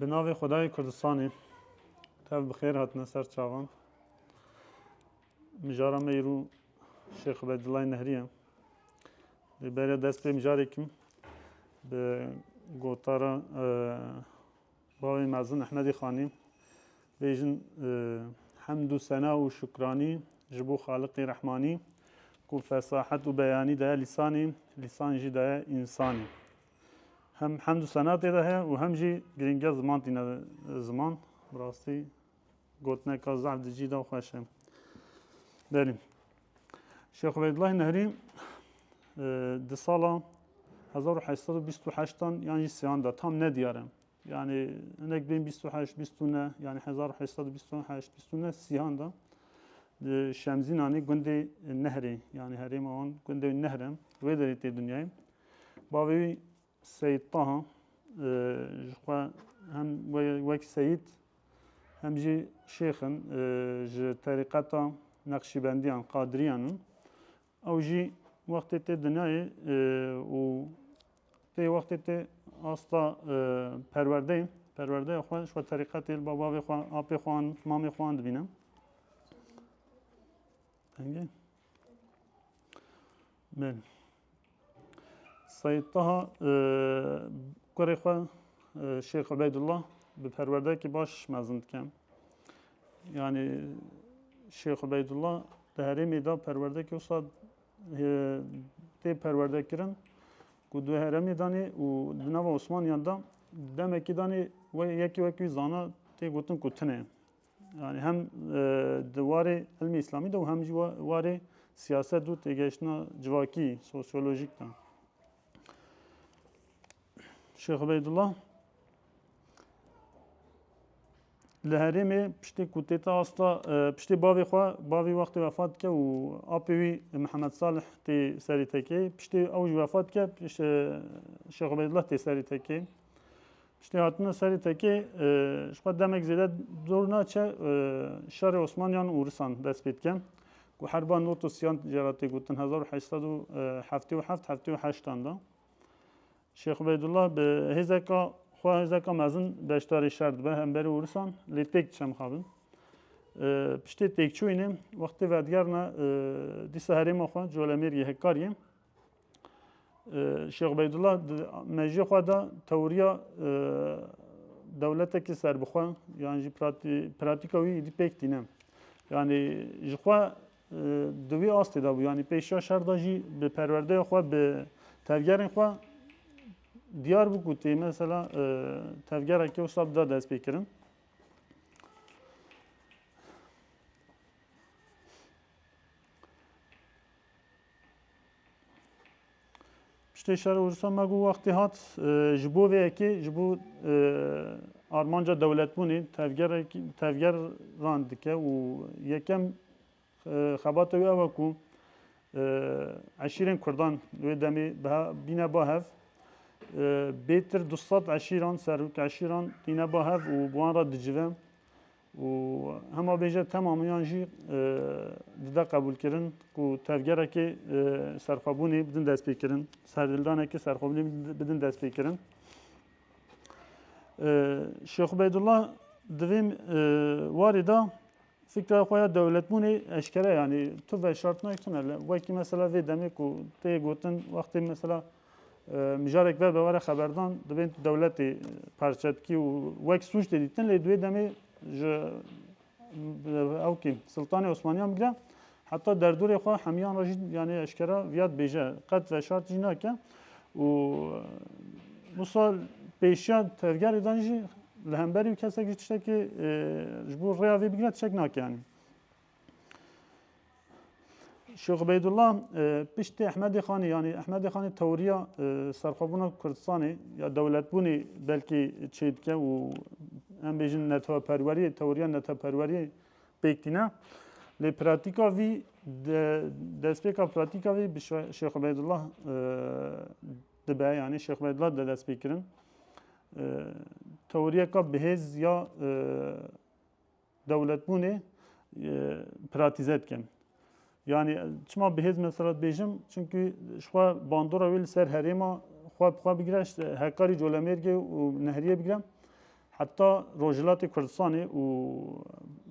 Bi navê Xwedayê Kurdistanê tev bi xêr hatine ser çavan. Mijara me îro Şêx Ubeydullah Nehrî ye. Lê beriya dest pê mijarêkim bi gotara e, bavê mezin Ehmedî Xanî bêjin e, hemd û sena û şukranî ji bo Xaliqî Rehmanî ku fesahet û beyanî daye lîsanê, lîsan jî daye însanê. Hem hemd û sena tê de heye û hem jî girîngiya ziman tîne ziman. Bi rastî gotineka zaf di cî de xweş e. Berî. Şêx Ubeydullah Nehrî di sala 1828 yan jî sêyan de tam nediyar e. Yani hinek bên 28, 29, yani 1828, 29 sihan da Şemzinanê gundê Nehrê, yani herêma wan gundê Nehrem, wê derê tê dünyayê. Bavê wî Seyîd Taha ji xwe hem wek seyîd hem jî şêx in ji terîqeta Neqşîbendiyan, Qadiriyan in. Ew jî wextê tê dinyayê û tê wextê tê asta perwerdeyê, perwerdeya xwe ji xwe terîqetê li ba bavê xwe, apê xwe an, mamê xwe an dibîne. Engê. Belê. Seyid Taha kurê xwe Şêx Ubeydullah bi perwerdekî baş mezin dike. Yanî Şêx Ubeydullah di herêmê de perwerdekî wisa tê perwerde kirin ku di herêmê danê û di nava Osmaniyan de demekî danê yekî wekî zana tê gotin ku tune. Yanî hem di warê ilmê îslamî de û hem jî warê siyaset û têgehiştina civakî, sosyolojîk de. Şêx Ubeydullah li herêmê piştê ku tê te asta e, piştê bavê xwe bavê wextê vefat dike û apê wî Mihemed Salih tê serî tekê piştê ew ji vefat dike e, Şêx Ubeydullah tê serî tekê. Piştî hatina serê tekê ji xwe demek zêde dor naçe şerê Osmaniyan û Risan dest pê dike ku herba not û siyan jê re tê gotin hezar û heşt sed û heftê û heft heftê û heştan de. Şêx Ubeydullah bi hêzeka xwe hêzeka mezin beşdarê şer dibe hemberî û Risan lê têk diçe mixabin. Piştê têkçûyînê wextê vedigerine dîsa herêma xwe Colemêrgê Hekkariyê Şêx Beydullah di mejiyê xwe de tewriya dewletekî serbixwe yan jî pratîka wî îdî pêk tîne. Yanî ji xwe di wî astê de bû yanî pêşiya şer de jî bi perwerdeya xwe bi tevgerên xwe diyar bû ku tê mesela tevgerekê wisa bida dest pê kirin. Piştê şerê Ursa me got wextê hat ji bo vê yekê, ji bo armanca dewletbûnê tevgerek tevgeran dike û yekem xebata wî ew e ku eşîrên Kurdan li wê demê bîne ba hev. Bêtir du sed eşîran, serok eşîran tîne ba hev û bi wan re dicive. Û hema bêje temam yan jî dide qebûlkirin ku tevgerekê serxwebûnê bidin destpêkirin, serdildanekê serxwebûnê bidin destpêkirin. Şêx Ubeydullah di vê warê de fikra xwe ya dewletbûnê eşkere yanî tu veşartine tune wekî mesela vê demê ku tê gotin wextê mesela Mijarek ver be were xeberdan dibên dewletê parçe dikî û wek sûc tê dîtin lê duê demê ji ew kî Siltanê Osmaniyan bigre heta derdorê xwe hemiyan re jî yanê eşkera viya dibêje qet veşart jî nake û wisa pêşiya tevgerê dan jî li hemberî û kesek jî tiştekê ji bo rêya vê bigre tişek nake yanî Şêx Ubeydullah piştî Ehmedê Xanê yanî Ehmedê Xanê tewriya serxwebûna Kurdistanê ya dewletbûnê belkî çê dike û em bêjin neteweperweriyê tewriya neteweperweriyê pêk tîne. Lê pratîka vî destpêka pratîka vî bi Şêx Ubeydullah dibe yanî Şêx Ubeydullah de dest pê kirin. Tewriyeka bihêz ya Dewletbûnê pratîze dikin. Yanî çima bi hêz mesela dibêjim çimkî ji xwe bandora wê li ser herêma xwe bi xwe bigire ji hekarî colemêrgê û nehriyê bigire heta Rojhilatê Kurdistanê û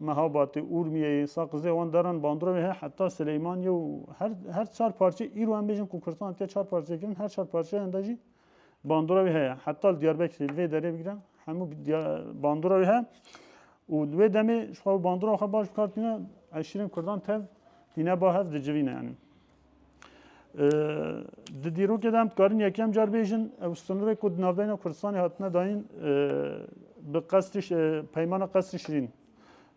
Mehabatê, Urmiyeyê, Saqizê wan daran bandora wê heye heta Sileymaniyê û her her çar parçeyê îro em bêjin ku Kurdistan hatiye çar parçekirin her çar parçeyan de jî Bandora wî heye. Heta li Diyarbekirê li vê derê bigire hemû bandora wî heye û li wê demê ji xwe bandora xwe baş bikar tîne eşîrên Kurdan tev tîne ba hev dicivîne yanî. Di dîrokê de em dikarin yekem car bêjin ew sınırê ku di navbeyna Kurdistanê hatine dayîn bi qesdî peymana qesdî şirîn.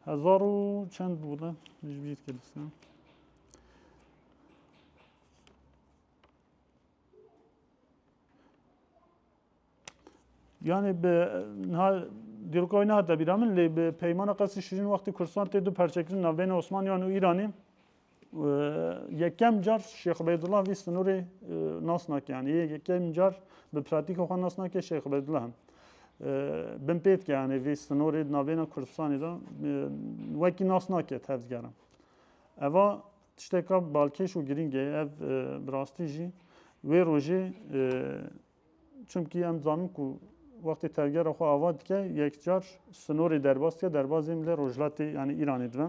Hezar û çend bû de ji bîr Yani bi niha dîroka wî nehate bîra min lê bi peymana qesî şirîn wextê Kurdistan tê du perçekirin navbeyna Osmaniyan û Îranî yekem car Şêx Ubeydullah vî sinûrê nas nake yani yê yekem car bi pratîka xwe nas nake Şêx Ubeydullah him. Bin pêt ke yani vê sinûrê navbeyna Kurdistanê de wekî nas nake tevdigerin. Eva Tişteka balkêş û girîng e ev bi rastî jî wê rojê çimkî em dizanin ku wextê tevgera xwe ava dike yekcar sinorê derbas dike derbazê milê rojhilatê yanî Îranê dibe.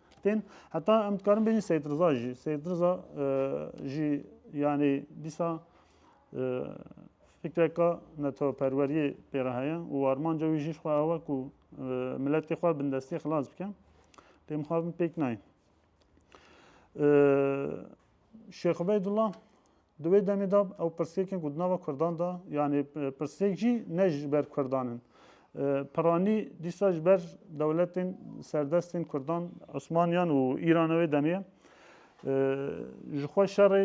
Tên heta em dikarin bêjin Seyid Riza jî. Seyid Riza jî yanî dîsa fikreka neteweperweriyê pê re heye û armanca wî jî xwe ewe ku miletê xwe bin destê xilas bike. Lê min xwabin pêk nayê. Şêx Ubeydullah Di wê demê de ew pirsgirêkên ku di nava Kurdan de yanê pirsgirêk jî ne ji ber Kurdan in. Piranî dîsa ji ber dewletên serdestên Kurdan, Osmaniyan û Îran wê demê ye. Ji xwe şerê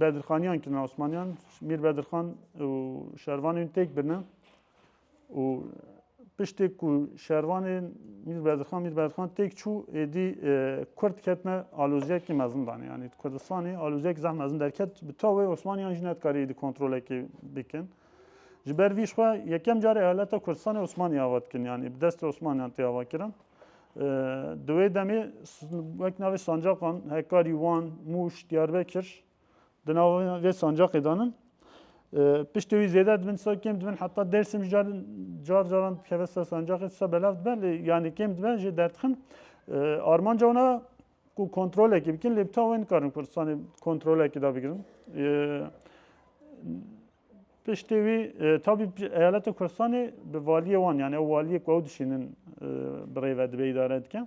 Bedirxaniyan kirine Osmaniyan, Mîr Bedirxan û şervanên têk birine. û piştê ku şervanê Mîr Berdixan Mîr Berdixan têk çû êdî e, Kurd ketine aloziyekî mezin danê. Yanî di Kurdistanê aloziyekî zeh mezin derket bi tawê Osmaniyan jî nedikare êdî kontrolekê bikin. Ji ber vî xwe yekem carê eyaleta Kurdistanê Osmanî ava dikin yanî bi destê Osmaniyan tê ava kirin. E, di wê demê wek navê sancaqan Hekarî, Wan, Mûş, Diyarbekir Di nava vê sancaqê de nin. Piştê wî zêde dibin sa kêm dibin heta Dêrsim ji car car caran dikeve ser sancaqê sa belav dibe lê yanî kêm dibe jê derdixin. Armanca wan e ku kontrolekî bikin lê bi ta wê nikarin Kurdistanê kontrolekî da bigirin. Piştê wî tabî eyaleta Kurdistanê bi valiyê wan yani ew waliyê ku ew dişînin bi rê ve dibe îdare dike.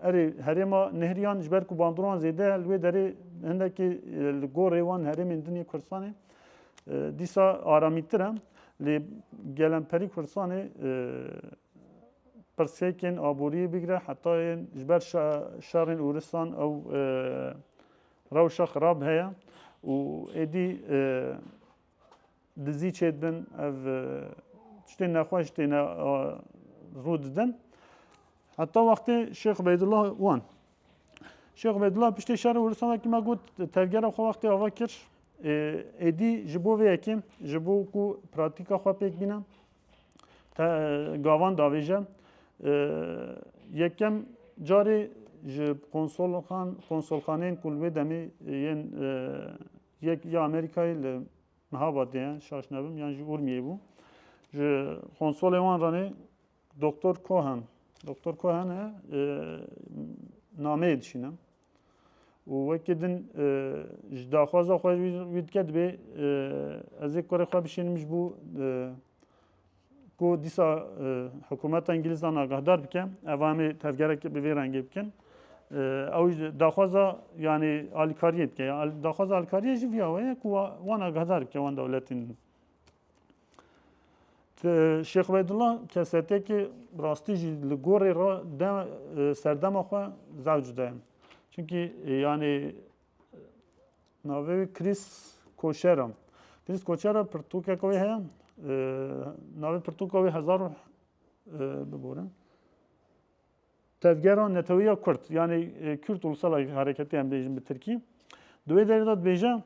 Erê herêma nehriyan ji ber ku bandroan zêde li wê derê hindekî li gorê wan herêmên din yê Kurdistanê dîsa aramîtir e. Lê gelemperî Kurdistanê pirsgehên aboriyê bigire heta yên ji ber şerên Ûristan ew rewşa xirab heye û êdî Dizî çêdibin ev tiştên nexweş têne rû didin. Heta wextê Şêx Ubeydullah wan. Şêx Ubeydullah piştê şerê Hurûsan wekî me got tevgera xwe wextê ava kir êdî ji bo vê yekê ji bo ku pratîka xwe pêk bîne gavan davêje yekem carê ji konsolxan konsolxaneyên ku li wê demê yên yek ya Amerîkayê li Niha badiye şaş nebim yan jî Urmiyê bû. Ji konsolê wan ranê Doktor Cohen. Doktor Cohen e nameyê dişînim. û wekî din ji daxwaza xwe wî dike dibê ez ê kurê xwe bişînim ji bo ku dîsa hikûmeta Îngîlîzan agahdar bike ev amê tevgerekê bi vê rengê bikin. Ew daxwaza yanî alîkariyê dike. Daxwaza alîkariyê jî viya weye ku wan agahdar bike wan dewletên din. Şêx Ubeydullah kesetekê rastî jî li gorê re de serdema xwe zewc de. Çünkî yanî Navê wî Chris Koşer e. Chris Koşer e pirtûkeka wê heye. Navê pirtûka wê hezar û biborin. Tevgera netewiya Kurd. Yani Kürt ulusal hareketi em bêjin bi Tirkî. Di wê derê de dibêje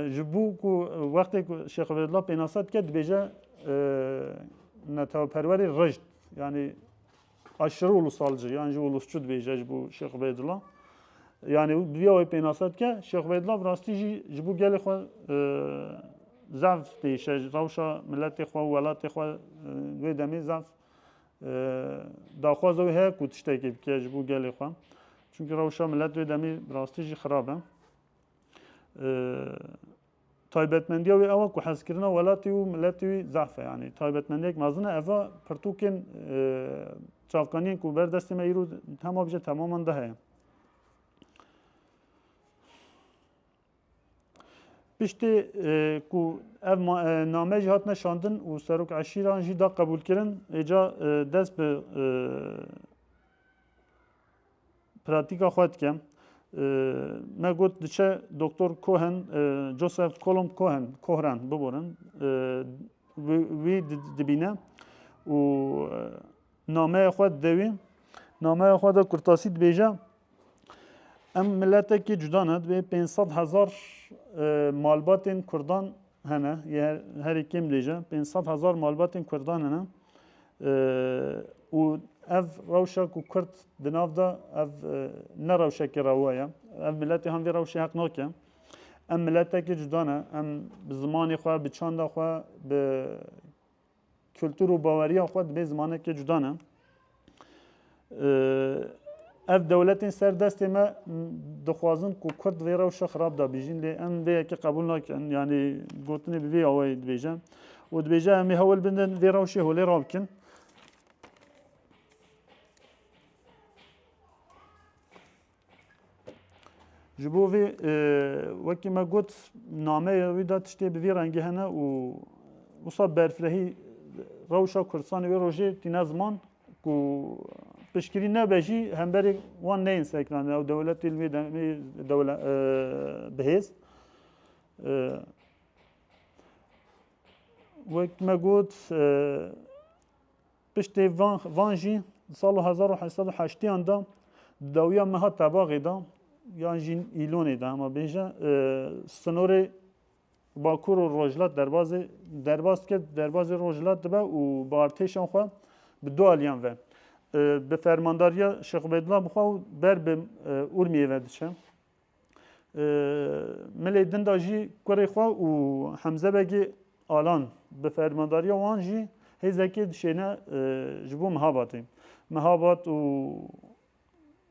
ji bo ku wextê ku Şêx Vedla pênasa dike dibêje neteweperwerê rijd. Yani Aşırı ulusalcı yan jî ulusçu dibêje ji bo Şêx Ubeydullah. Yani û duya wê pênasa dike Şêx Ubeydullah bi rastî jî ji bo gelê xwe zaf têşe ji rewşa miletê xwe û welatê xwe wê demê zaf daxwaza wê heye ku tiştekê bike ji bo gelê xwe. Çünkü rewşa milet wê demê bi rastî jî xirab e. Taybetmendiya wê ew e ku hezkirina welatê û miletê wî zehf e. Yanî taybetmendiyek mezin e. Ev a pirtûkên çavkaniyên ku ber destê me îro hema bijî temaman di heye. Piştê ku ev name jî hatine şandin û serok eşîran jî da qebûlkirin êca dest bi Pratîka xwe dike. Me got diçe Doktor Cohen, Joseph Columb Cohen, Kohran biborin. Wî dibîne û nameya xwe dide wî. Nameya xwe de kurtasî dibêje em miletekî cuda ne dibê 500 hezar malbatên Kurdan Hene, yê herî kêm dê jî pênc sed hezar malbatên Kurdan hene û ev rewşa ku Kurd di nav de ev ne rewşekê rewa ye. Ev miletê han vê rewşê heq nake. Em miletekî cuda ne. Em bi zimanê xwe, bi çanda xwe, bi kultur û baweriya xwe dibê zimanekê cuda ne. Ev dewletên ser destê me dixwazin ku Kurd vê rewşa xirab da bîjîn lê em vê yekê qebûl nakin yanî gotinê bi vê awayê dibêje û dibêje em ê hewil bidin vê rewşê holê rabikin. Ji bo vê wekî me got nameya wî de tiştê bi vî rengî hene û wisa berfirehî rewşa Kurdistanê wê rojê tîne ziman ku piştgirî nebe jî hemberê wan neyên sekiranê ew dewletê li wê demê bihêz wek me got Piştî van van jî di sala hezar û heşt sed û heştîyan de di dawiya meha Tebaxê de yan jî Îlonê de hema bêje sinorê Bakur û Rojhilat derbazê derbaz kir derbazê Rojhilat dibe û bi artêşan xwe bi du aliyan ve bi fermandariya Şêx Ubeydullah bixwe û ber bi Urmiyê ve diçe. Milê din de jî kurê xwe û Hemze Begê Alan bi fermandariya wan jî hêzekê dişêne ji bo Mihabatê. Mihabat û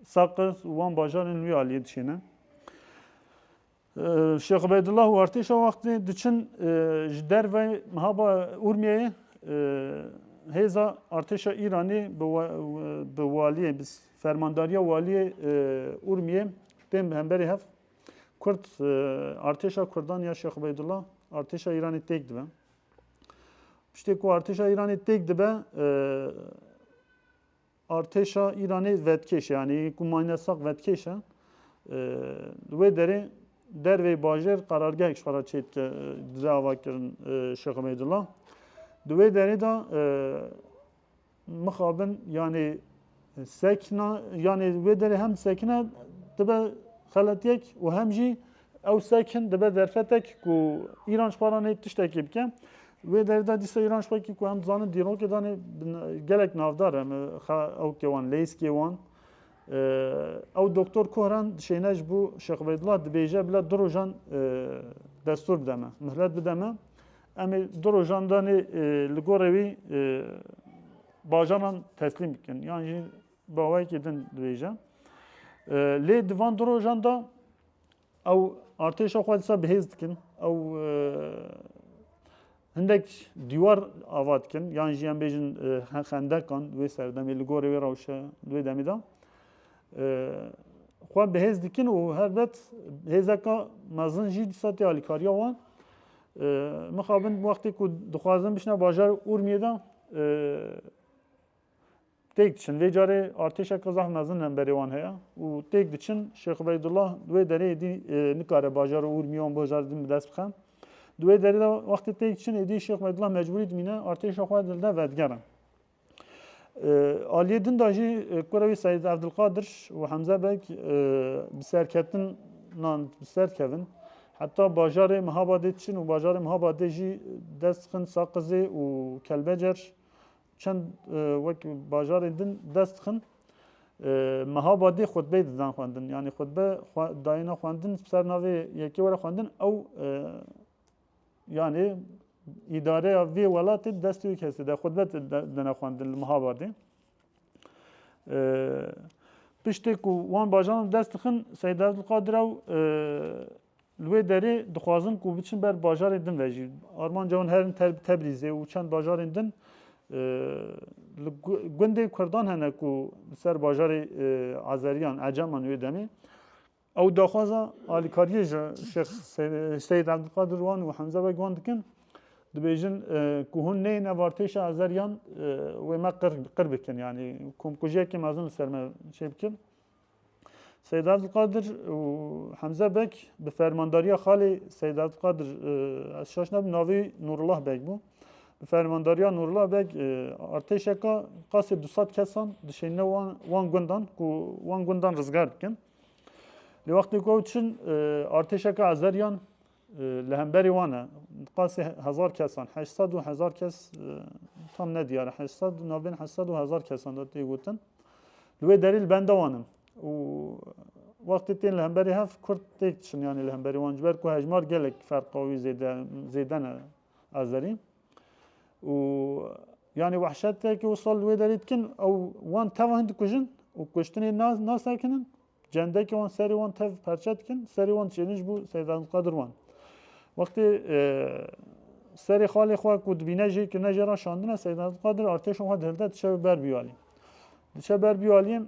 Saqiz û wan bajarên wî aliyê dişêne. Şêx Ubeydullah û artêşa wextê diçin ji derve Mihaba Urmiyeyê hêza artêşa Îranê bi waliyê Fermandariya Waliyê Urmiyê tên bi hemberî hev Kurd artêşa Kurdan ya Şêx Ubeydullah artêşa Îranê têk dibe. Piştê ku artêşa Îranê têk dibe artêşa Îranê vedkêş e yanî ku mayne saq vedkêş e li wê derê dervê bajêr qerargehek ji xera çê dike dide ava kirin Şêx Ubeydullah. Di wê derê de mixabin yanê sekna yanê wê derê hem sekine dibe xeletiyek û hem jî ew sekin dibe derfetek ku îran ji xwe re nê tiştekê bike. Wê derê de dîsa îran ji xwe kî ku em dizanin dîrokê danê gelek navdar em ew kê wan leyskê wan. Ew doktor Kohran dişêne ji bo Şex Ubeydullah dibêje bila du rojan destûr bide me, mihlet bide me. Em ê du rojan danê li gorê wî bajaran teslîm bikin yan jî bi awayekî din dibêje. Lê di van du rojan da ew artêşa xwe disa bihêz dikin ew hindek dîwar ava dikin yan jî em bêjin xendekan wê serdemê li gorê wê rewşe li wê demê da xwe bihêz dikin û herbet hêzeka mezin jî disa tê alîkariya wan Mixabin wextê ku dixwazin bişne bajarê Urmiyê de têk diçin. Vê carê artêşeke zaf mezin hemberê wan heye û têk diçin. Şêx Ubeydullah di wê derê êdî nikare bajarê Urmiyê wan bajar din bi dest bixe. Di wê derê de wextê têk diçin êdî Şêx Ubeydullah mecbûrî dimîne artêşa xwe li der vedigerin. Aliyê din de jî kura wî Seîd Evdilqadir û Hemze Beg bi serketinan bi ser dikevin. Heta bajarê Mihabadê diçin û bajarê Mihabadê jî dest dixin Saqizê û Kelbecer çend wek bajarên din dest dixin. Mihabadê xutbeyê didan xwendin. Yanî xutbe dayêna xwendin bi ser navê yekê were xwendin ew Yanî îdareya vê welatê di destê wê kesê de xwedî dine xwendin li Mihabadê. Piştê ku wan bajaran li dest dixin Seyîd Evdulqadir ew li wê derê dixwazin ku biçin ber bajarê din ve jî. Armanca wan herin Tebrîzê û çend bajarên din li gundê Kurdan hene ku li ser bajarê Ezeriyan, Eceman wê demê Ew daxwaza alîkariyê ji Şêx Seyîd Ebdulkadir wan û Hemze Beg wan dikin, dibêjin ku hûn neyên evartêşa Azeriyan wê me qir bikin, yanî komkujiyekê mezin li ser me çêbikin. Seyîd Ebdulkadir û Hemze Beg bi fermandariya xalê Seyîd Ebdulkadir ez şaş nebim navê Nûrullah Beg bû. Bi fermandariya Nûrullah Beg artêşeka qasê du sed kesan dişênine wan gundan ku wan gundan rizgar bikin. Lê wextê ku ew diçin artêşeke Azeriyan li hemberî wan e. Qasî hezar kesan, heşt sed û hezar kes tam ne diyar e. Heşt sed û navbên heşt sed û hezar kesan de tê gotin. Li wê derî li benda wan in. û wextê tên li hemberî hev Kurd têk diçin yanî li hemberî wan ji ber ku hejmar gelek ferqa wî zêde ne. Azerî û yanî wehşetekî wisal li wê derê dikin ew wan teva hin dikujin û kuştinê nasekinin cendekî wan serê wan tev perçe dikin serê wan diçênin ji bo Seyd Abdulkadir wan. Wextê serê xalê xwe ku dibîne jê kirine jê ra şandine Seyd Abdulkadir artêşa xwe dihilde diçe ber biyalî. Diçe ber biyalî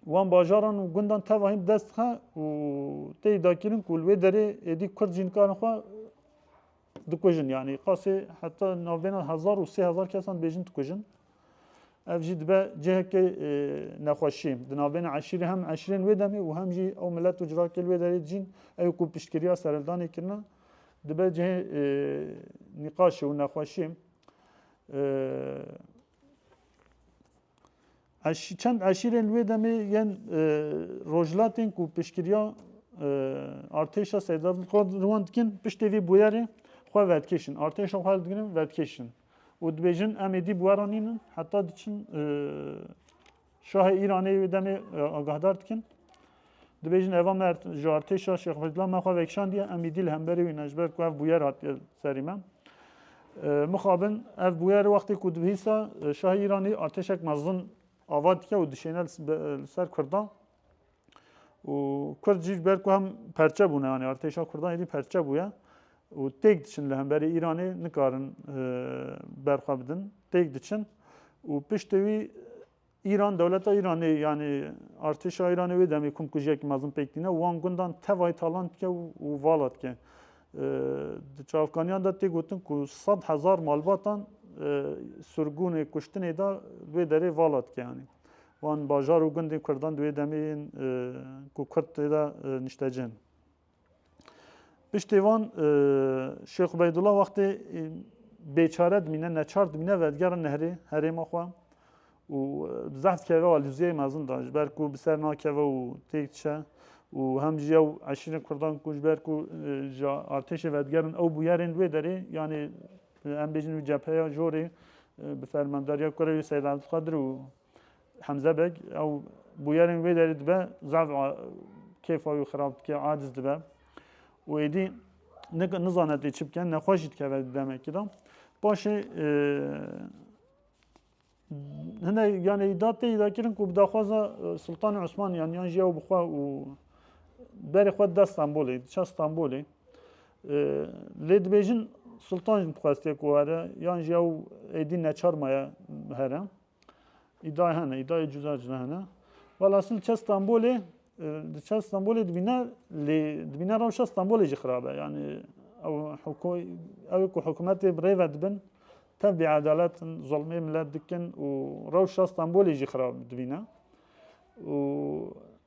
wan bajaran û gundan teva hin dest dixe û tê dakîrin ku li wê derê êdî kurd jî nikarin xwe dikujin yani qasê heta navbêna hezar û sê hezar kesan bêjin dikujin. Ev jî dibe cihekê e, nexweşî. Di navbêna eşîrê hem eşirên wê demê û hem jî ew milet û cirakê wê derê dijîn ew ku piştgiriya sereldanê kirine dibe cihê e, nîqaşê û nexweşî. E, Çend eşîrên li wê demê yên rojhilatên ku piştgiriya artêşa Seyda li wan dikin piştê vê bûyerê xwe vedikêşin, artêşa xwe li digirin vedikêşin û dibêjin em êdî bi we re nînin heta diçin şahê Îranê yê wê demê agahdar dikin. Dibêjin eva me ji artêşa Şêx Feyzullah me xwe vekişandiye em îdî li hemberî wî ne ji ber ku ev bûyer hatiye serî me. Mixabin ev bûyer wextê ku dibihîsa şahê Îranî artêşek mezin ava dike û dişêne li ser Kurdan û Kurd jî ji ber ku hem perçe bûne yanî artêşa Kurdan êdî perçe bûye û têk diçin li hemberî Îranê nikarin berxwe bidin têk diçin û piştê wî Îran, dewleta Îranê yanî artêşa Îranê wê demê komkujiyekî mezin pêk tîne û wan gundan tevayî talan dike û vala dike. Di çavkaniyan de tê gotin ku sed hezar malbatan surgûnê kuştinê de wê derê vala dike yanî. Wan bajar û gundên Kurdan di wê demê yên ku Kurd tê de niştecih in. Piştê van Şêx Ubeydullah wextê bêçare dimîne, neçar dimîne ve digere nehrê herêma xwe û bi zehf dikeve wa lûziyeyê mezin da ji ber ku bi ser nakeve û têk dişe û hem jî ew eşîrên Kurdan ku ji ber ku ji artêşê ve digerin ew bûyerên li wê derê yanê em bêjin wî cepheya jorê bi fermandariya kurê wî Seyd Abdulkadir û Hemze Beg ew bûyerên wê derê dibe zaf kêfa wî xirab dike, aciz dibe û êdî nizane tê çi bike, nexweş jî dikeve di demekî de. Paşê e, hine yanê îda tê îda kirin ku bi daxwaza e, Sultanê Osmaniyan yan jî ew bi xwe û berê xwe dida Stenbolê, diça Stenbolê. E, lê dibêjin Sultan jî dixwestiye ku were yan jî ew êdî neçar maye here. Îdayê hene, îdayê cuda cuda hene. Wala asil çe Stenbolê, di çe Stenbolê dibîne lê dibîne rewşa Stenbolê jî xirab e. Yanî ew hukû ew ku hikûmetê bi rê ve dibin tev bêedalet in, zulmê milet dikin û rewşa Stenbolê jî xirab dibîne. û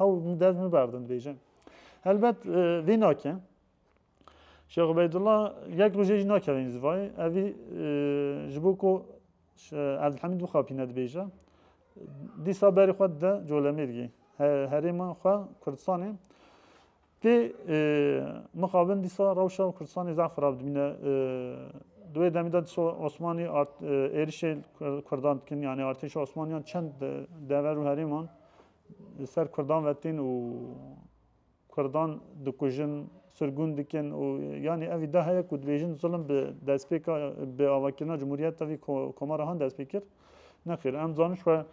Ew dev min berdin dibêje. Helbet e, vê nake. Şêx Ubeydullah yek rojê jî nakeve înzivayê. Evî e, ji bo ku Evdilhemîd bixapîne dibêje. Dîsa berê xwe de colemêrgê. Herêma xwe Kurdistanê Tê mixabin dîsa rewşa Kurdistanê zaf xirab dimîne. Di wê demê de dîsa Osmanî êrişê li Kurdan dikin yanî artêşa Osmaniyan çend dever û herêman li ser Kurdan ve tên û Kurdan dikujin, sirgûn dikin û yanî ev îdia heye ku dibêjin zilim bi destpêka bi avakirina Cumhuriyet tevî Komara Han dest pê kir. Nexir, em zaniş xwe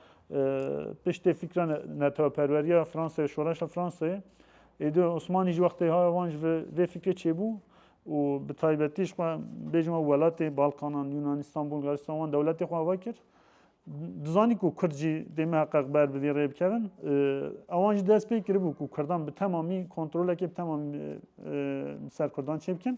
piştê fîkra neteweperweriya Fransayê, şoreşa Fransayê êdî Osmanî ji wextê haya wan ji vê fîkrê çêbû û bi taybetî ji xwe bêjin we welatê Balkanan, Yûnanîstan, Bulgaristan wan dewletê xwe ava kir. Dizanî ku Kurd jî dê me heqeq ber bi vî rê bikevin. Ewan jî dest pê kiribû ku Kurdan bi temamî kontrolekê bi temamî ser Kurdan çêbikin.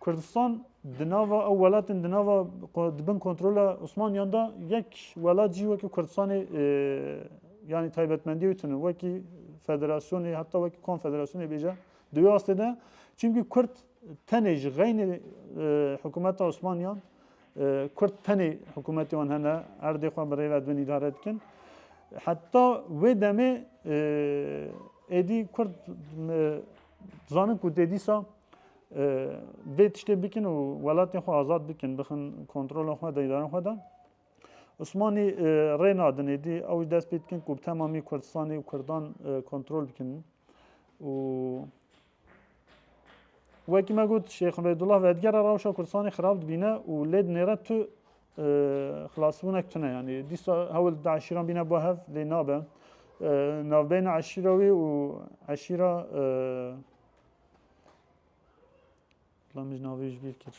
Kurdistan di nava ew welatên di nava di bin kontrola Osmaniyan de yek welat jî wekî Kurdistanê yanî taybetmendiyê wî tune wekî federasyonê heta wekî konfederasyonê bêje di wê astê de çimkî Kurd tenê ji xeynê hikûmeta Osmaniyan Kurd tenê hikûmetê wan hene erdê xwe bi rêve dibin îdare dikin heta wê demê êdî Kurd zanin ku dê dîsa vê tiştê bikin û welatên xwe azad bikin bixin kontrola xwe deydarên xwe de Osmanî rê nadin êdî ew ji dest pê dikin ku bi temamî Kurdistanê û Kurdan kontrol bikin û wekî me got Şêx Beydullah vedgera rewşa Kurdistanê xirab dibîne û lê dinêre tu xilasbûnek tune yanî dîsa hewil di eşîran bîne bo hev lê nabe navbeyna eşîra wî û eşîra Lamij navê ji bîr kir.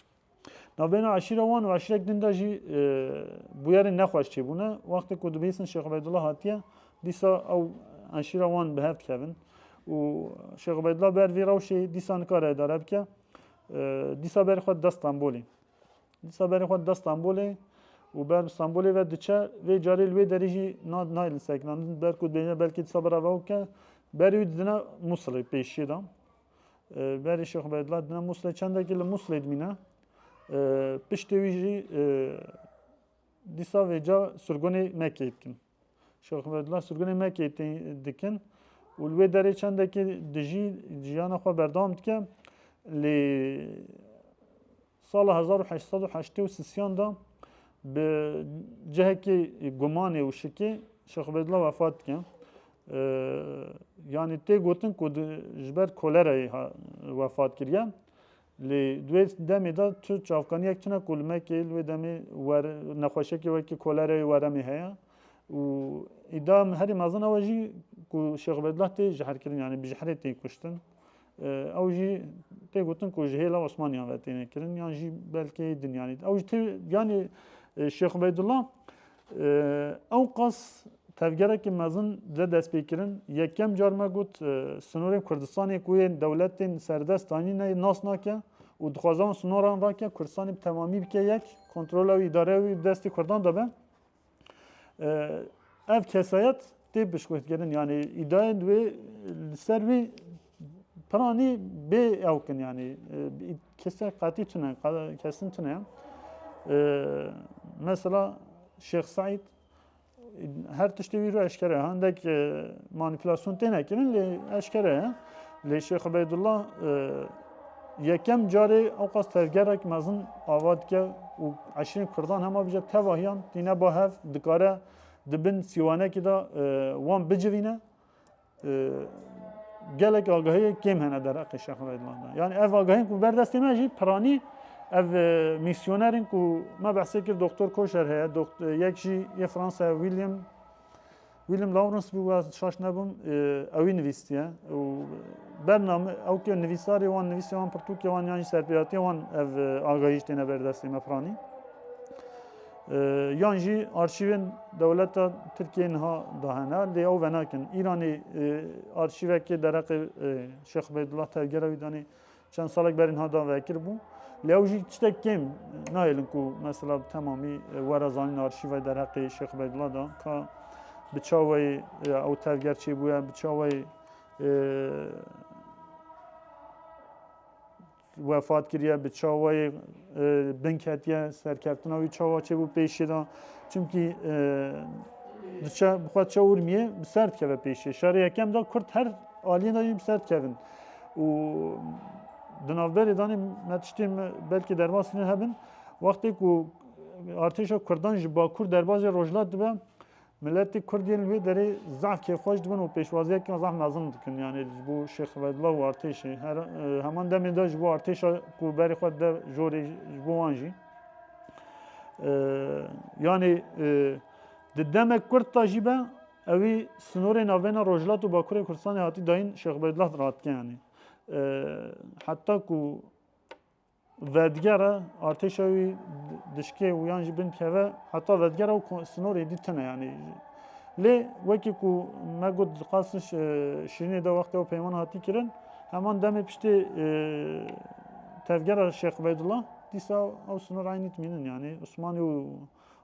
Navbêna eşîra wan û eşîrek din de jî e, bûyerên nexweş çêbûne. Wextê ku dibihîstin Şêx Ubeydullah hatiye, dîsa ew eşîra wan bi hev dikevin. û Şêx Ubeydullah ber vî rewşê dîsa nikare edare bike. E, dîsa ber xwe dida Stenbolê. Dîsa berê xwe dida Stenbolê û ber bi Stenbolê ve diçe. Vê carê li wê derî jî nayê li sekinandin. Ber ku dibêje belkî dîsa bira ve bike. Berê wî didine Musilê pêşiyê de. Berê Şêx Ubeydullah didine Musilê. Çendekî li Musilê dimîne. Piştê wî jî dîsa vêca sirgonê Mekkeyê dikin. Şêx Mehmedullah Surgunê me kêtî dikin û li wê derê çendekî dijî jiyana xwe berdewam dike. Lê sala hezar û heşt sed û heştê û sisiyan de bi cihekê gumanê û şikê Şêx Mehmedullah wefat dike. Yanî tê gotin ku ji ber kolerayê wefat kiriye. Lê di wê demê de tu çavkaniyek tune ku li me kê li wê demê wer nexweşiyekê wekî kolereyê weremê heye û îdia herî mezin ew e jî ku Şêx Ubeydullah tê jiherkirin yanî bi jiherê tê kuştin. Ew jî tê gotin ku ji hêla Osmaniyan ve têne kirin yan jî belkê din yanî ew jî tê yanî Şêx Ubeydullah Ewqas tevgerekî mezin dide destpêkirin. Yekem car me got sinorên Kurdistanê ku yên dewletên serdest anîne nas nake û dixwaze wan sinoran rake Kurdistanê bi temamî bike yek, kontrola wî îdare wî destê Kurdan de be. Ev kesayet tê piştgirtin yanî îdayên wê li ser wî Piranî bê ew kin yanî kesek qatî tune kesin tune mesela Şêx Saîd her tiştê wî ro eşkere hindek manîpulasyon têne kirin lê eşkere ye lê Şêx Ubeydullah yekem carê ew qas tevgerek mezin ava dike û eşirên Kurdan hema bije tevahiyan tîne ba hev dikare di bin sîwanekî de wan bicivîne gelek agahiyê kêm hene dereqê Şex Redwan de. Yani ev agahiyên ku berdestê me jî piranî ev e, misyonerên ku me behsê kir doktor Koşer heye, e, yek jî yê Fransa William William Lawrence bû we şaş nebûm e, ewî nivîstiye û bername ew ke nivîsarê wan nivîsê wan pirtûkê wan yan jî serpêhatiye wan ev agahî jî têne berdestê me piranî. Yan jî arşîvên dewleta Tirkiyeyê niha dahêne lê ew venakin. Îranê arşîvekê dereqê Şêx Ubeydullah tevgera wî danê çend salek berî niha da vekir bû. Lê ew jî tiştek kêm nayêlin ku mesela bi temamî were zanîn arşîvay dereqê Şêx Ubeydullah da ka bi çawayê ew tevger çêbûye bi çawayê Wefat kiriye bi çawayê bin ketiye serkeftina wî çawa çêbû pêşê de çimkî diçe bi xwe çe urmiyê bi ser dikeve pêşê şerê yekem de kurd her aliyên de jî bi ser dikevin û di navberê danê me tiştê belkî derbas kirin hebin wextê ku artêşa kurdan ji bakur derbazê rojlat dibe Miletê Kurd yên li wê derê zaf kêfxweş dibin û pêşwaziya kiyan zaf mezin dikin. Yanê ji bo Şêx Ubeydullah û artêşê. Her heman demê de ji bo artêşa ku berê xwe dide jorê ji bo wan jî. Yanê di demek Kurd da jî be ewî sinorê navbêna Rojhilat û Bakurê Kurdistanê hatî dayîn Şêx Ubeydullah diratike yanê. Heta ku Vedigere artêşa wî dişkê û yan jî bin keve heta vedigere û sinorê dî tune yanî. Lê wekî ku me got diqasin Şirînê de wextê ew peyman hatî kirin heman demê piştê tevgera Şêx Ubeydullah dîsa ew sinor eynî dimînin yanî Osmanî û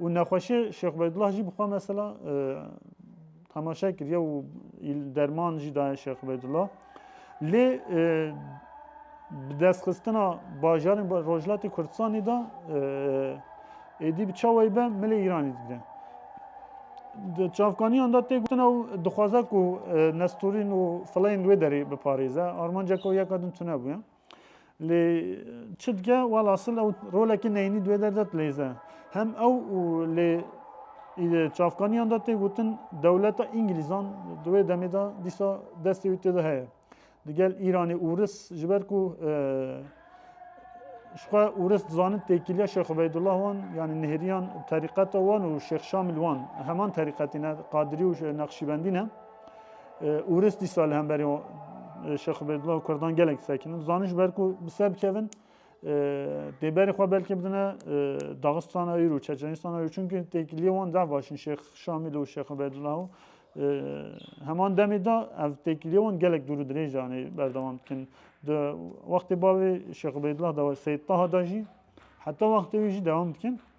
û nexweşiyê Şêx Ubeydullah jî bi xwe mesela temaşe kiriye û derman jî daye Şêx Ubeydullah. Lê bi destxistina bajarên Rojhilatê Kurdistanê de êdî bi çawayî be milê Îranê digire. Di çavkaniyan de tê gotin ew dixwaze ku Nesturîn û Fileyn li wê derê biparêze. Armanceke wê yeka din tune bûye. Lê çi dike wala sil ew rolekî neyînî duê derde dileyze. Hem ew û lê çavkaniyan de tê gotin dewleta Îngilîzan di wê demê de dîsa destê wî tê de heye. Digel Îranê û Ris ji ber ku ji xwe û Ris dizanin têkiliya Şêx Ubeydullah wan yanî nihêriyan terîqeta wan û Şêx Şamil wan heman terîqetî ne Qadirî û Nexşîbendî ne. Ûris dîsa li hemberî Şex Ubeydullah û Kurdan gelek disekinin. Zanin ji ber ku bi ser bikevin dê berê xwe belkî bidine Daxistana Îr û Çeçenîstana Îr çunki têkiliyê wan zehf baş in Şêx Şamîl û Şex Ubeydullah û heman demê de ev têkiliyê wan gelek dûr û dirêj anê berdewam dikin. Di wextê bavê Şex Ubeydullah de Seyd Taha de jî heta wextê wî jî dewam dikin.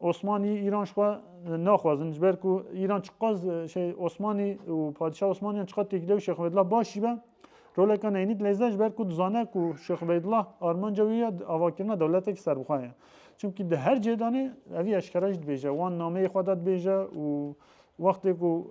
Osmanî Îran xwe naxwazin ji ber ku Îran çiqas şey Osmanî û Padîşah Osmaniyan çiqas têkiliya Şêx Ubeydullah baş jî be roleka neynî dileyze ji ber ku dizane ku Şêx Ubeydullah armanca wî ya avakirina dewletekî serbixwe ye. Çimkî di her cihê danê evî eşkera jî dibêje wan nameyê xwe de dibêje û wextê ku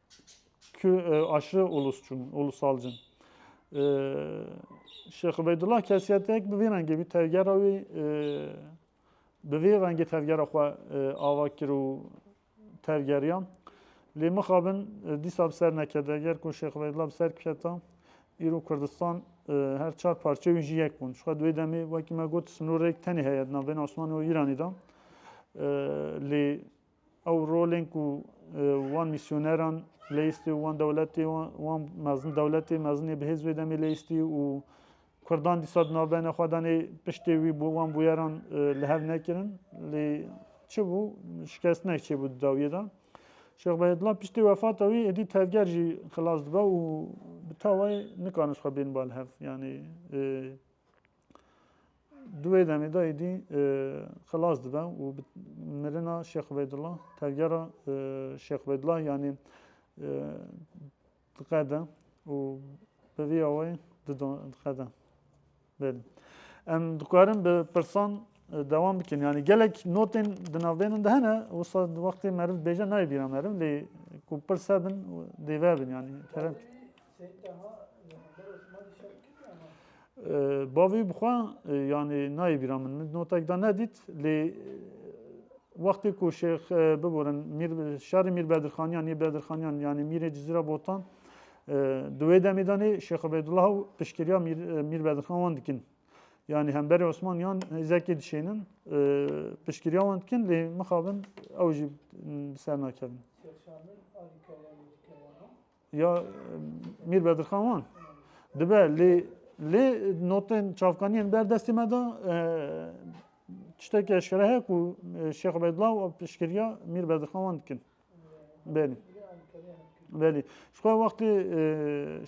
aşırı ulusçun, ulusalcın. E, Şeyh Ubeydullah kesiyetek bi vî rengê vî tevgera wî e, bi vî rengê tevgera xwe e, ava kir û tevgeriya. Lê mixabin e, dîsa bi ser nekede. Ger ku Şeyh Ubeydullah bi ser biketa, îro Kurdistan e, her çar parçe wî jî yek bûn. Şixwe duê demê wekî me got snorêk tenê heye di navbêna Osmanî û Îranî de. E, lê Ew rolên ku wan mîsyoneran leyîstî û wan dewletê wan mezin dewletê mezinê bi hêz wê demê leyîstî û Kurdan dîsa di navbeyna xwe danê piştê wî bû wan bûyeran li hev nekirin lê çi bû şikestinek çêbû di dawiyê de. Şêx Behedullah piştê wefata wî êdî tevger jî xilas dibe û bi tawayê nikarin ji xwe bên bal hev. Yanî Di wê demê de êdî xilas dibe û bi mirina Şêx Ubeydullah tevgera Şêx Ubeydullah yanî diqede û bi vî awayê diqede. Bêdin. Em dikarin bi pirsan devam bikin. Yani gelek notên di navbênin de hene wisa wextê meriv bêje nayê bîra meriv lê ku pirse bin dêve bin yani. Bavê bi xwe yanê nayê bîra min. Min notek da nedît lê wextê ku şêx biborin şerê Mîr Bedirxaniyan yê Bedirxaniyan yanê Mîrê Cizîra Botan di wê demê de nê Şêx Ubeydullah û piştgiriya Mîr Bedirxan wan dikin. Yanê hemberê Osman yan hêzekê dişênin piştgiriya wan dikin lê mixabin ew jî ser nakevin. Ya Mîr Bedirxan wan dibe lê lê notên çavkaniyên ber destê me da tiştekî eşkere heye ku Şêx Ubeydullah û piştgiriya Mîr Bedirxan wan dikin. Belî. Belî. Ji xwe wextê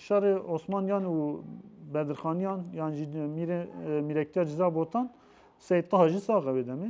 şerê Osmaniyan û Bedirxaniyan yan jî mîrektiya Ciza Botan Seyd Taha jî sax e wê demê.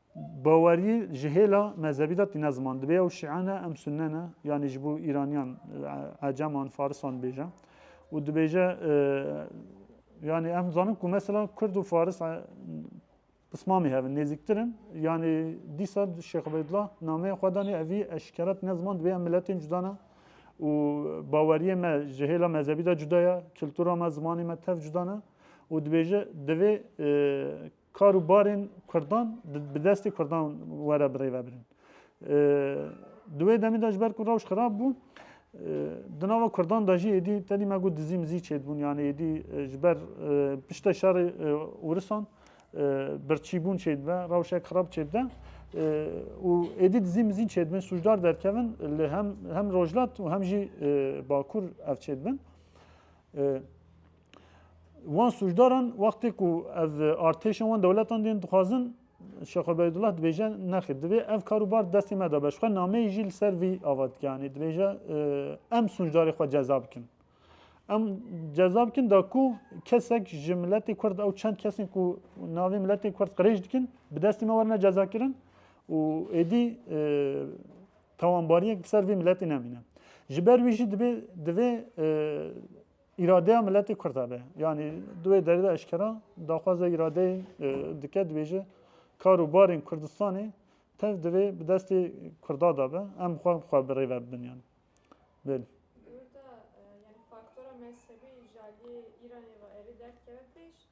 Bawerî ji hêla mezhebî de tîne ziman. Dibe ew şîe ne em sunne ne yanî ji bo îranîyan eceman farisan dibêje û dibêje yanî em dizanin ku mesela kurd û faris pismamî hevin nêzîktir in yanî dîsa Şêx Ubeydullah nameyê xwe danê evî eşkere tîne ziman dibê em miletên cuda ne û baweriyê me ji hêla mezhebî de cuda ye kultura me zimanê me tev cuda ne û dibêje divê Kar û barên Kurdan bi destê Kurdan were birêvebirin. Di wê demê de ji ber ku rewş xirab bû, di nava Kurdan de jî êdî tedî me got dizî mizî çêdibûn yanî êdî ji ber pişte şerê wirisan birçîbûn çêdibe, rewşek xirab çêdide û êdî dizî mizîn çêdibin, sûcdar derkevin li hem hem rojlat û hem jî bakur ev çêdibin. Wan sûcdaran wextê ku ev artêşên wan dewletan dên dixwazin Şex Ubeydullah dibêje nexir divê ev kar û bar destê me de be. Ji xwe nameyê jî li ser vî ava dike yanî dibêje em sûcdarê xwe ceza bikin. Em ceza bikin da ku kesek ji miletê Kurd ew çend kesên ku navê miletê Kurd qirêj dikin bi destê me werine cezakirin û êdî tawanbariyek li ser vê miletê nemîne. Ji ber wî jî dibê divê Îradeya miletê Kurd e be. Yanî di wê derê de eşkera daxwaza îradeyê dike dibêje kar û barên Kurdistanê tev divê bi destê Kurda de be. Em xwe xwe bi rê ve bibin yan. Bel. Li Urda yani faktora mezhebî ji aliyê Îranê ve erê derdkeve pêş.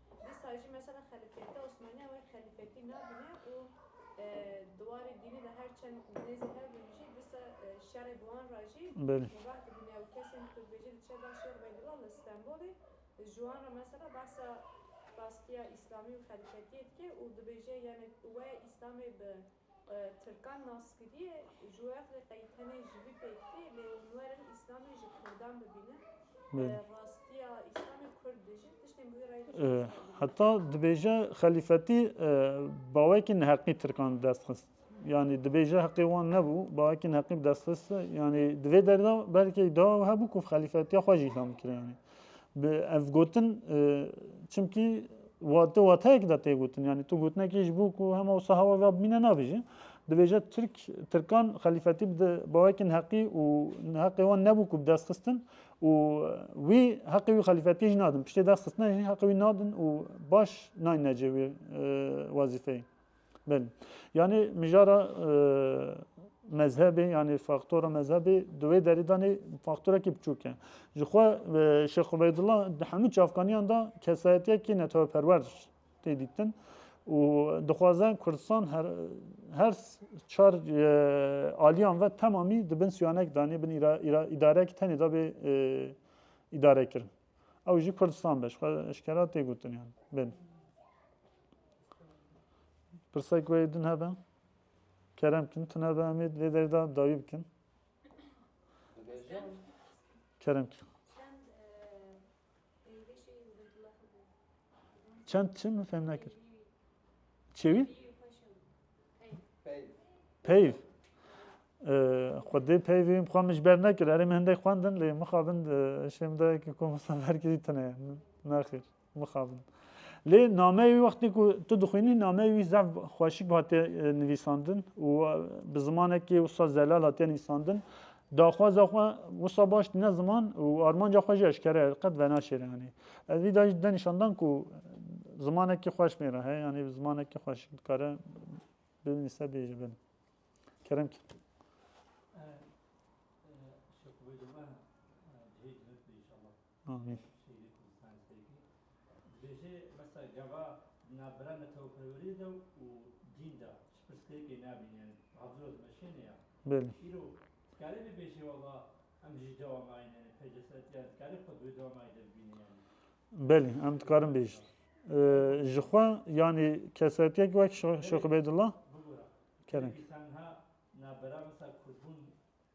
Dîsa jî mesela xelîfeteya Osmanî ew ê xelîfetî nabîne û di warê dînê de her çend nêzî hebûn jî dîsa şerê bi wan re jî mubah dibîne û kesên ku tu dibêjî diçe bar Şêx Ubeydullah li Stenbolê ji wan re mesela behsa rastiya îslamî û xelîfetiyê dike û dibêje yanê wê îslamê bi Tirkan naskirîyê ji we re qey tenê ji vî pêk tê lê hûn werin îslamê ji kurdan bibînin rastîya îslamê kurd dijîn tiştên bi wî reyê de jî hesab bikînin. Heta dibêje xelîfetî bawekî neheqî tirkan bi dest xist yanî dibêje heqê wan nebû bawekî neheqî bi dest xist yanî di vê derde belkî îdia hebû ku xelîfetîya xwe jî îhlan bikire yanî Bi ev gotin çimkî tu wateyek de tê gotin yanî tu gotinekî ji bo ku hema wisa hewa ve bimîne nabêje. Dibêje Tirk Tirkan xelîfetî bi bawekên heqî û heqê wan nebû ku bi dest xistin û wî heqê wî xelîfetiyê jî nadin. Piştê dest xistina jî heqê wî nadin û baş nayne cê wê wezîfeyê. Belê. Yanî mijara mezhebê yanî faktora mezhebê di wê derî danê faktorekî biçûk e. Ji xwe Şêx Ubeydullah di hemû çavkaniyan de kesayetiyekî neteweperwer tê dîtin û dixwaze Kurdistan her her çar aliyan ve temamî di bin siyanek danê bin îdareyekî tenê da bê îdarekirin. Ew jî Kurdistan be ji xwe eşkera tê gotin yan. Belê. Pirsek wê din hebe. Kerem kim tun hebe em lê derda dayî bikin. Kerem kim. Çend çi min fem nekir. Çêwî? Peyv. Xwedê peyvê xwe min ji ber nekir. Erê min hindek xwendin lê mixabin eşê min de ki komostan verkirî tune. Nexir. bixabin. Lê nameyê wî wextê ku tu dixwînî nameyê wî zaf xweşik hatiye nivîsandin û bi zimanekî wisa zelal hatiye nivîsandin. Daxwaza xwe wisa baş tîne ziman û armanca xwe jî eşkere ye qet venaşêre yanî. Ez vî da jî dide nîşandan ku zimanekî xweş mêra heye yanî zimanekî xweşik dikare binivîse bêje bin. Kerem kî. Şekubê dime cihê cihê inşallah. Belê em dikarin bêjin. Ji xwe yanî kesayetiyek wek Şêx Ubeydullah kerem.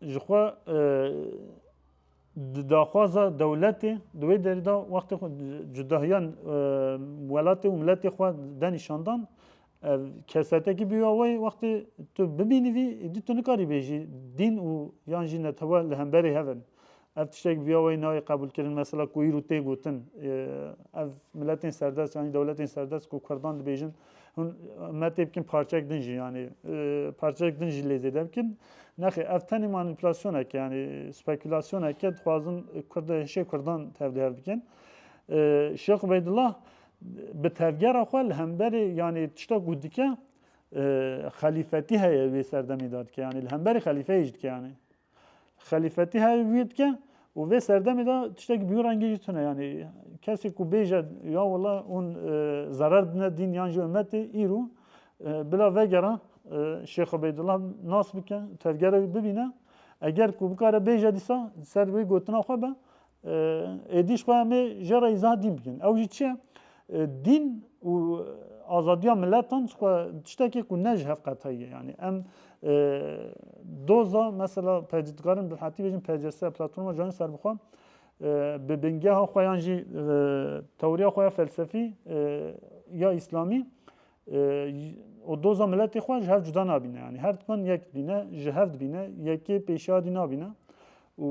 Ji xwe di daxwaza dewletê di wê derê de wextê xwe cudahiya welatê û miletê xwe de nîşandan ev kesetekî bûya wê wextê tu bibînî vî êdî tu nikarî bêjî dîn û yan jî netewe li hemberê hev in. Ev tiştek bi vîya weyî nayê qebûlkirin. Mesela ku îro tê gotin ev miletên serdest yanî dewletên serdest ku kurdan dibêjin hûn me tê bikin parçek din jî yanî parçek din jî lê zêde bikin. Nexê ev tenê manîpulasyoneke yanî spekulasyoneke dixwazin kurd hişê kurdan tevlihev bikin. Şêx Ubeydullah bi tevgera xwe li hemberê yanî tiştek ku dike xelîfetî heye wê serdemê de dike yanî li hemberê xelîfeyê jî dike yanî. Xelîfetî hevî wî dike û vê serdemê de tiştekî bî rengî jî tune yanî kesê ku bêje ya wela hûn zerer dine dîn yan jî ummetê îro bila vegera Şêx Ubeydullah nas bike tevgerek bibîne eger ku bikare bêje dîsa ser wê gotina xwe be êdîş xwe em ê jê re îzah dîn bikin. Ew jî çi ye? Dîn û azadiya miletan xwe tiştekê ku ne ji hev qetayî ye. Yanî em doza mesela dikarin bi hetî bêjin PCS platforma Cihana Serbixwe bi bingeha xwe yan jî tewriya xwe ya felsefî ya îslamî û doza miletê xwe ji hev cuda nabîne yanî her dikan yek dibîne ji hev dibîne yekê pêşiyadî nabîne û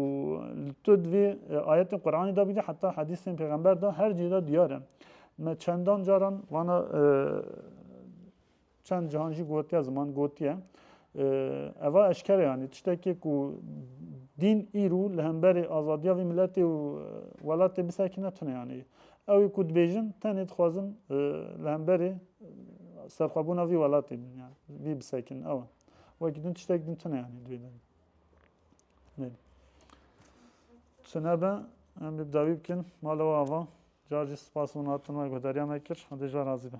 li tu divê ayetên Quranê da bîdî heta hedîsên pêxember da her cî da diyar e me çendan caran vana çend cihan jî gotiye ziman gotiye eva eşkere yanî tiştekê ku dîn îrû li hemberê azadiya vî miletê û welatê bisekine tune yanî Ew ê ku dibêjin tenê dixwazin li hemberê serxwebûna vî welatê bin ya vî bisekin ew e. Wekî din tiştek din tune yanî dibê din. Neydi. Çinebe em bi dawî bikin mala ava. Car jî spas û natin me guhdariya me kir. Hindê ji razî be.